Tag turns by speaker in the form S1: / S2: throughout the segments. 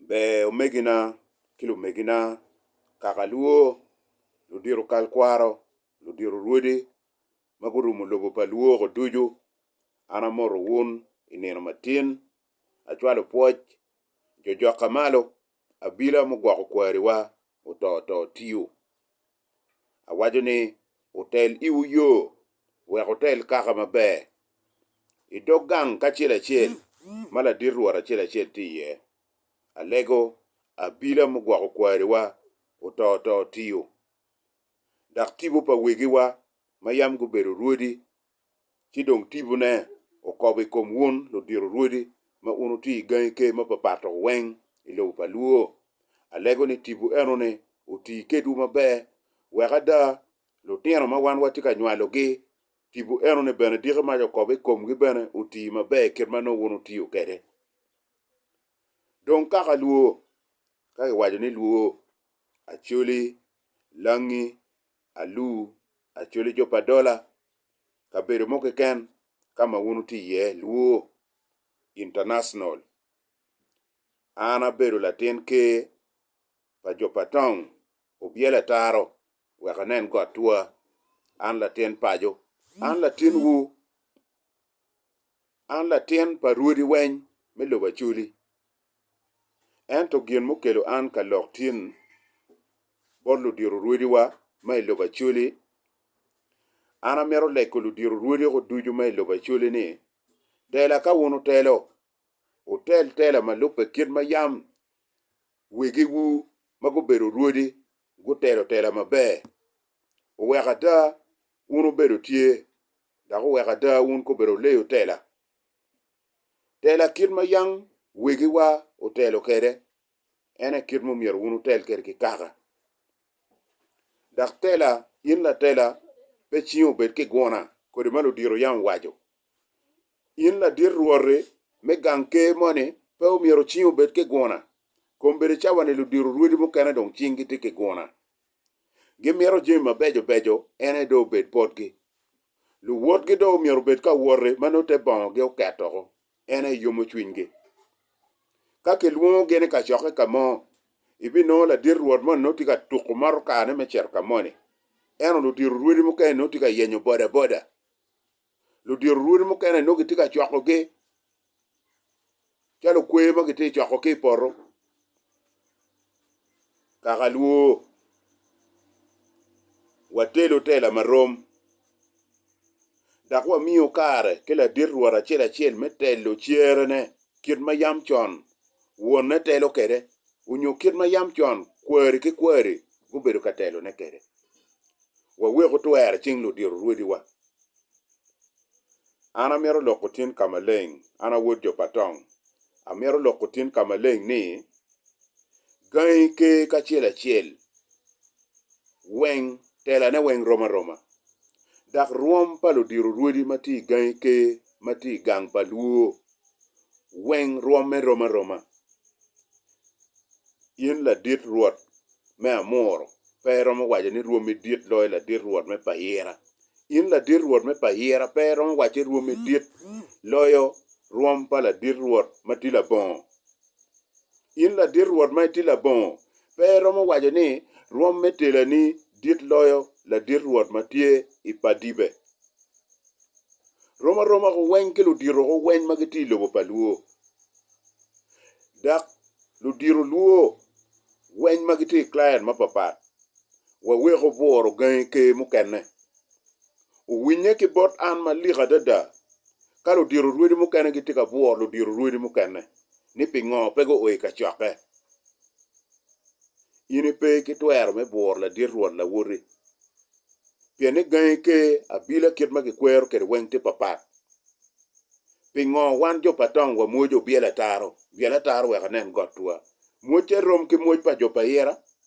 S1: Ber omegina ki lumegina, kaka lwo, ludito kal kwaro, ludito rwodi ma gurumo lobo pa lwok-ko ducu, an amoto wun i nino matin, acwalo pwoc, jojokka malo, abila mugwoko kwariwa oto to tiyo. Awaco ni, Wutel iwu yo, wek wutel kaka maber. I dog gang kacel acel ma ladit rwot acel acel tye iye, alego abila mugwoko kwariwa oto oto tiyo. Dok tipo pa wegiwa ma yam gubedo rwodi ci dong tipone okobo i kom wun ludito rwodi ma wun wutye i gangi ker mapapat-to weng i lobo pa Luo. Alego ni tipo eno-ni oti kedwu maber wek ada lutino ma wan watye ka nywalogi, tipo eno-ni bene diki mac okobo i komgi bene oti maber kit ma nongo wun wutiyo kwede. Dong kaka Luo, ka kiwaco ni Luo, Acholi, Langi, alu, acoli, jo pa dola, kabedo mo keken ka ma wun wutye iye, lwor, International. An abedo latin ker pa jo pa tong obyelo ataro wek anen got twa. An latin paco. An latinwu. An latin pa rwodi weny me lobo Acoli, ento gin mukelo an ka lok tin bot ludiro rwodiwa ma i lobo Acoli, an amito leko ludiro rwodiko ducu ma i lobo Acoli ni, tela ka wun wutelo, wutel tela ma lubbe kit ma yam wegiwu ma gubedo rwodi gutelo tela maber. Wek ada Wun wubedo tye, dok wuweko ada wun kobeddi wuleyo tela, tela kit ma yam wegiwa otelo kwede, en aye kit ma omyero wun wutel kwede ki kaka. Dok tela, in latela, pe cingi obed ki guna, kodi ma ludito yam owaco. In ladit rwot-ti me gang ker moni, pe omyero cingi obed ki guna, kombeddi ca wani ludito rwodi mukene dong cingi tye ki guna. Gimito jami mabeco beco en aye dong obed botgi. Luwotgi dong myero obed ka woti ma nongo te bongogi oket woko, en aye yomo cwinygi. Ka kilwongogi ni kacokke ka mo, ibinongo ladit rwot moni nongo tye ka tuko moto kane me cito ka moni, ento ludito rwodi mukene nongo tye ka yenyo bodaboda. ludito rwodi mukene nongo gitye ka cwakogi calo kwer ma gitye cwako ki i poto kaka lwo watelo tela marom dok wamiyo kare ki ladit rwot acel acel me telo cerene kit ma yam con wonne telo kwede onyo kit ma yam con kwari ki kwari gubedo ka telone kwede wawek otwero cing ludito rwodiwa. An amito loko tin ka maleng, an a wod jo pa Tong. Amito loko tin ka maleng ni, Gangi ker kacel acel weng telane weng rom aroma, dok rwom pa ludiro rwodi ma tye i gangi ker ma tye i gang pa Luo weng rwomme rom aroma. In ladit rwot me amuru pe iromo waco ni rwomi dit loyo ladit rwot me Payira. In ladit rwot me Payira pe iromo waco ni rwomi dit loyo rwom pa ladit rwot ma tye labongo. In ladit rwot ma itye labongo, pe iromo waco ni rwom me telani dit loyo ladit rwot ma tye i padibe? Rom aroma ku weny ki ludito ku weny ma gitye i lobo pa lwo, dok ludito lwo weny ma gitye i client mapapat. Wawek obworo gangi ker mukene. Owinye ki bot an malik adada ka ludito rwodi mukene gitye ka bworo ludito rwodi mukene ni pingo pe guo i kacokke. In ipe ki twero me bworo ladit rwot lawoti, pien ni gangi ker abila kit ma kikwero kwede weng tye papat. Pingo wan jo pa tong wa mwoc obyel ataro byel ataro wek anen got twa? Mwocca rom ki mwoc pa jo pa ira?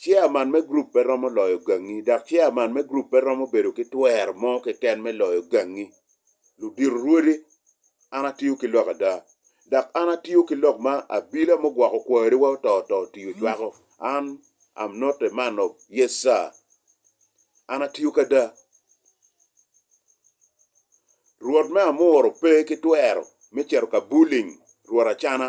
S1: Chairman me group pe romo loyo gangi, dok chairman me group pe romo bedo ki twero mo keken me loyo gangi. Ludito rwodi, an atiyo ki lok ada, dok an atiyo ki lok ma abila mugwoko kwariwa oto oto otiyo cwako. An am not a man of yes sir. An atiyo ki ada. Rwot me amuro pe ki twero me cito ka bullying rwot acana.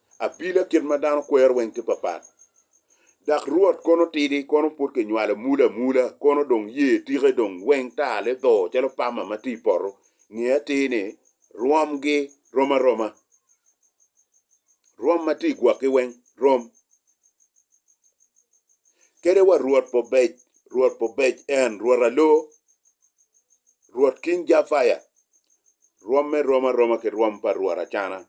S1: Apila kit ma dano kwero weng tye papat, dak Rwot kono tidi, kono pud kinywalo mula amula, kono dong ye tike dong weng tar lidho calo pama ma tye i poto, nge atir ni rwomgi rom aroma, rwom ma tye i gwokgi weng rom. Kede wa Rwot pobec, Rwot pobec, en, Rwot alo, Rwot King Jafaya, rwomme rom aroma ki rwom pa Rwot acana.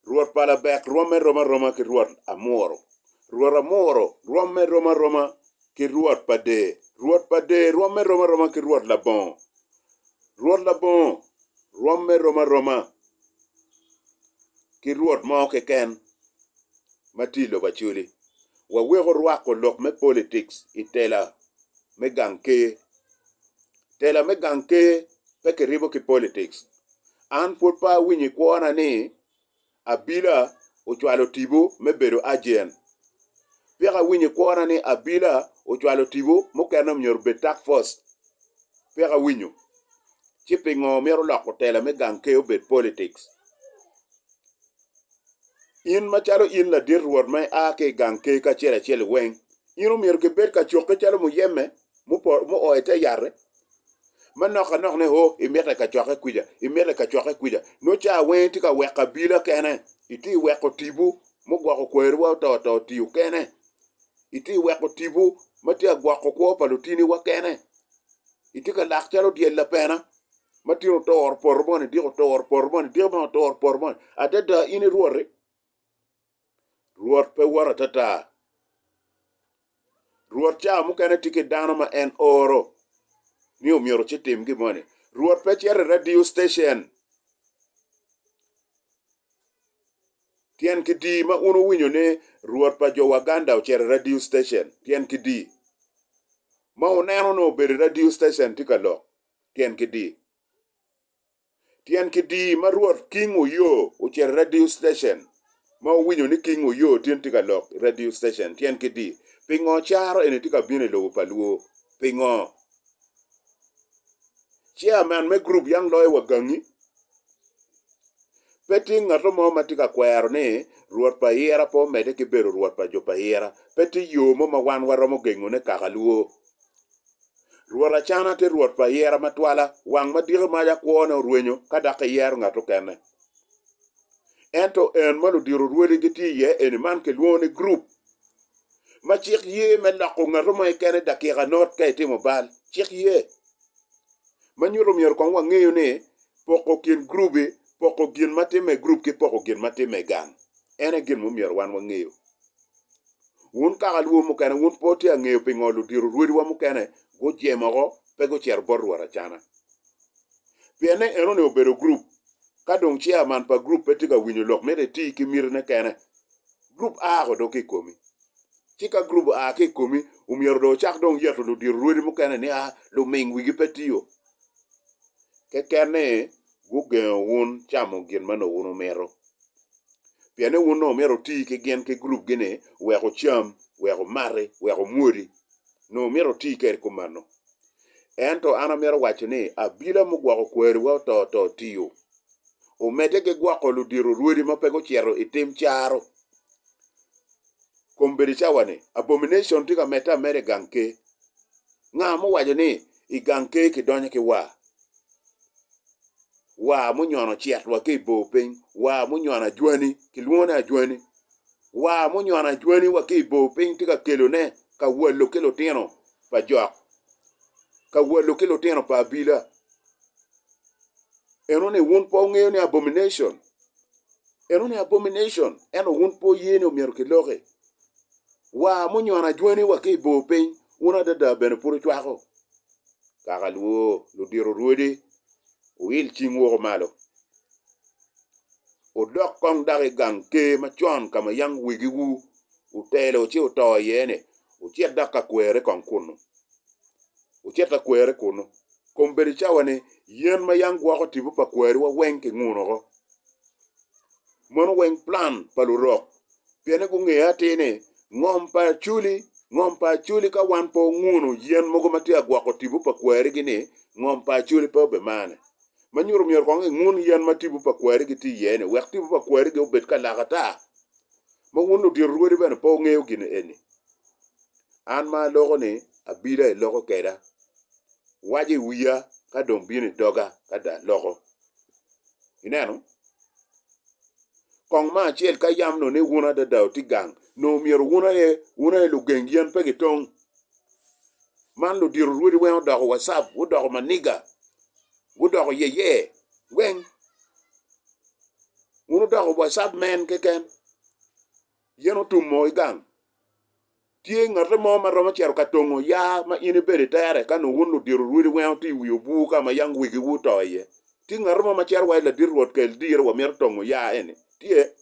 S1: Rwot pa Labek rwomme rom aroma ki rwot Amuro. Rwot Amuro rwomme rom aroma ki rwot pa Dee. Rwot pa Dee rwomme rom aroma ki rwot Labongo. Rwot Labongo rwomme rom aroma ki rwot mo keken ma tye i lobo Acholi. Waweko rwako lok me politics i tela me gang ker. Tela me gang ker pe kiribo ki politics. An pwod pe awinyo i kwona ni Abila ocwalo Tibo me bedo agent. Peka awinyo i kwona ni Abila ocwalo Tibo mukene omyero obed task force. Peka awinyo. Ci pingo myero loko tela me gang ker obed politics? In macalo in ladit rwot ma ia ki i gang ker kacel acel weng, in omyero kibed ka cokke calo Muyeme muo i te yat-te, ma nok ka nok ni o imite kacokke kwica, imite kacokke kwica, nongo ca weng itye ka weko abila kene, itye ka weko tipo mugwoko kwariwa oto to otiyo kene, itye ka weko tipo ma tye ka gwoko kwo pa lutiniwa kene, itye ka lak calo dyel lapena ma tin oturo poto moni, diko oturo poto moni, diko moni oturo poto moni, adada in irwoti. Rwot pe woto atata. Rwot cawa mukene tye ki dano ma en oro ni omyero ci tim gin moni. Rwot pe cito i radio station tyen ki di ma un wuwinyo ni Rwot pa jo Waganda ocito i radio station tyen ki di ma wuneno ni obedo i radio station tye ka lok tyen ki di. Tyen kidii ma Rwot King Oyo ocito i radio station ma wuwinyo ni King Oyo tin tye ka lok i radio station tyen kidii pingo caro eni tye ka bino i lobo pa luo? Pingo? Chairman me group Young Lawyer wa gangi? Pe tye ngato mo ma tye ka kwero ni Rwot pa Ayira pe omedde ki bedo Rwot pa jo pa Ayira. Pe tye yo mo ma wan waromo gengone kaka luo. Rwot Acana tye Rwot pa ayera matwala, wang madiki mac akwone orwenyo ka dok eyero ngat okene. Ento en ma ludiro rwode gitye iye eni man kilwongo ni gurup ma cik ye me loko ngatu mo kekene dakika not ka itimo bal. Cik ye ma nyuto myero kong wangeyo ni poko kin gurubi, poko gin ma timme i gurup ki poko gin ma timme i gang en aye gin ma myero wan wangeyo. Wun kaka luwo mukene, wun pe wutye ka ngeyo pingo ludiro rwediwa mukene gujemo woko, pe gucito bot Rwot acana. Pien ni enoni obedo gurup, ka dong chairman pa gurup pe tye ka winyo lok mito eti ki mitine kene, gurup a ko dong ki i komi. Ci ka gurup oa ki i komi, omyero dong ocak dong yeto ludiro rwedi mukene ni a luming wigi pe tiyo. Keken ni gugengo wun camo gin ma nongo wun wumito. Pien ni wun nongo myero wuti ki gin ki gurupgi-ni wek wucam, wek wumati, wek wumwodi. Nongo myero wuti kwede kumeno. Ento an amito waco ni abila mugwoko kwariwa oto oto tiyo. Omedde ki gwoko ludito rwodi ma pe gucito i tim caro. kom bedo cawa ni abomination tye ka medde ameda i gang ker. Nga ma owaco ni i gang ker ki donyo ki war? War munyono cit wa ki i bor piny, war munyono ajwani, ki lwongo ni ajwani. War munyono ajwani wa ki i bor piny tye ka kelo ne ka walo ki lutino pa jok, ka walo ki lutino pa abila. Eno ni wun pe wungeyo ni abomination Eno ni abomination, ento wun pe wuye ni omyero kiloki. Wa munyono ajweni wa ki i bor piny, wun adada bene pud wucwako. Kaka lwo, ludito rwodi, wuil cing woko malo, wudok kong dok i gang ker macon ka ma yam wigiwu otelo ci wuto iye-ni, wucit dok ka kwere kong kunnu. Wucit ka kwere kunnu. Kombeddi cawa-ni, yen ma yam gwoko tipo pa kwariwa weng kinguno oko. Mono weng plan pa lurok pien ni gungeyo atir ni ngom pa acholi ngom pa acholi ka wan pe onguno yen mogo ma tye ka gwoko tipo pa kwarigi ni ngom pa acholi pe obe mane. Ma nyuto myero kong ingun yen ma tipo pa kwarigi tye iye ni wek tipo pa kwarigi obed ka lak ata. Ma wun ludito rwodi bene pe wungeyo gin eni. An ma aloko ni abida iloko keda. Waco iwiya ka dong bino idoga ka dong aloko. Ineno? Kong ma acel ka yam nongo ni wun adada otye gang, nongo myero wun aye wun aye lugeng yen pe gitong. Man ludiro rwodi weng odoko wacap, gudoko maniga, gudoko yeye weng. Wun wudoko wacap men keken. Yen otum moo ki gang. Tye ngate mo ma romo cito ka tongo ya ma in ibedo i tere ka nongo wun ludiro rwodi weng oto i wi obwur ka ma yam wegi wu to iye? Tye ngate mo ma cito wa i ladit Rwot kel diro wa mito tongo ya eni? Tye.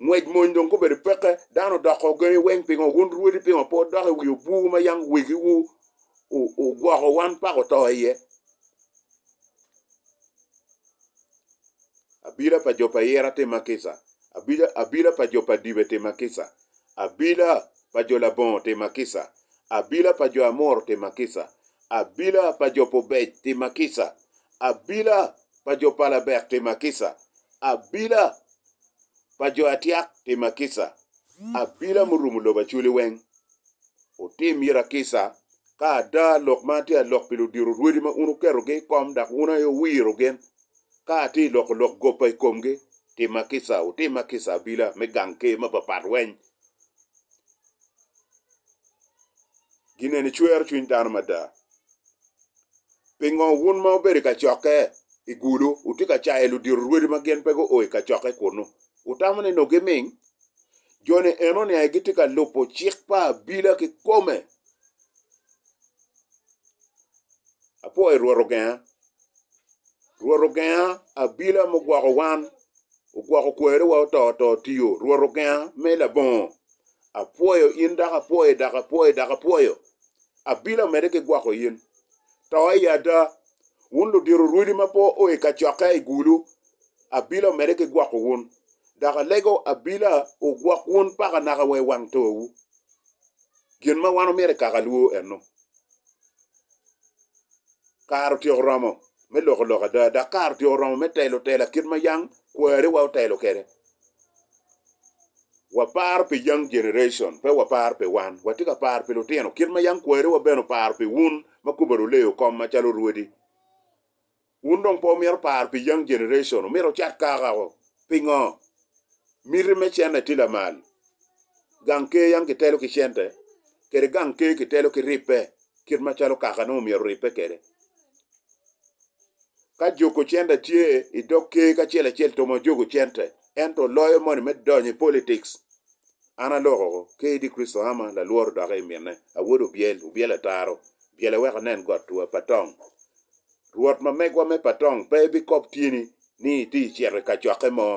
S1: Ngwec mony dong gubedo peke, dano odoko ogengi weng pingo wun rwodi pingo pe wudok i wi obwur ma yam wegi wu ogwoko wan pako to iye? Abila pa jo pa Ira tye ma kica, abila pa jo pa dibe tye ma kica, abila pa jo labongo tye ma kica, abila pa jo Amor tye ma kica, abila pa jo pa obec tye ma kica, abila pa jo pa labek tye ma kica, abila pa jo atyak tye ma kica, abila murumo lobo acoli weng. Wutim ira kica Ka ada lok man tye a lok pi ludiro rwedi ma un wuketogi i kom dok wun aye wuwiro gin, ka atye i loko lok gopa i komgi, timma kica, wutimma kica abila me gang ker ma papat weny. Gin eni cwero cwiny dano mada. Pingo wun ma wubedo i kacokke i gulu wutye ka cayo ludiro rwedi ma gin pe guo i kacokke kunnu? Wutamo ni nongo giming? Jo-ni enoni aye gitye ka lubo cik pa abila kikome. Apwoyo Rwot ogenga, Rwot ogenga abila mugwoko wan, ogwoko kwerewa oto to otiyo, Rwot ogenga me labongo. Apwoyo in dok apwoyo dok apwoyo dok apwoyo, abila omedde ki gwoko in. To i ada, wun ludito rwodi ma pe oa i kacokke aye i gulu, abila omedde ki gwoko wun, dok alego abila ogwok wun paka naka wa i wang towu. Gin ma wan omyero ekak alwo ennu, Kare otyeko oromo me loko lok ada, dok kare otyeko oromo me telo tela kit ma yang kwariwa otelo kwede. Waparo pi Young Generation, pe waparo pi wan. Watye ka paro pi lutino, kit ma yang kwariwa bene oparo pi wun ma kubbe oruleo kom macalo rwodi. Wun dong pe wumito paro pi young generation, wumito wucat kaka o, pingo? Miti me cente tye lamal. Gang ker yam kitelo ki cente, kede gang ker kitelo ki ribbe kit macalo kaka nongo omyero oribbe kede. Ka juku cente tye i dog ker kacel acel to ma juku cente, ento loyo moni me donyo i politics, an alokoko, KD Christo Hama, lalworo doki i mine, Awod Obyel, Obyel Ataro, Byel Aweko Anen Got Two, Patong, Rwot ma megwa me patong pe ebikob tyeni ni itye i cito i kacokke mo.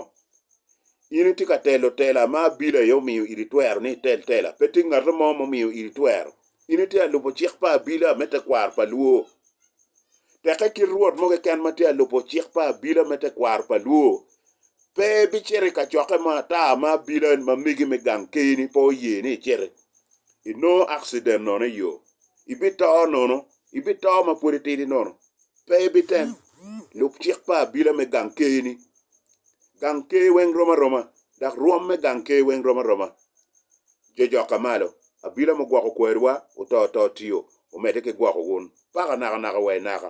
S1: In itye ka telo tela ma abili aye omiyo iri twero ni itel tela, pe tye ngat mo mumiyo iri twero. In itye ka lubo cik pa abila me tekwaro pa Luo. Tekke kit rwot mo keken ma tye ka lubo cik pa abila me tekwaro pa Luo pe ebicito i kacokke mo ata ma abila ma megi me gang keni pe oye ni icito. Inongo akciden nono i yo. Ibito nono Ibito ma pwod itidi nono. Pe ibitem. Lub cik pa abila me gang ker-ni. Gang ker weng rom aroma, dok rwom me gang ker weng rom aroma. Jo jokke malo. Abila mo gwoko kwariwa, oto to tio, omedde ki gwoko wun. Paka nakanaka wa inaka.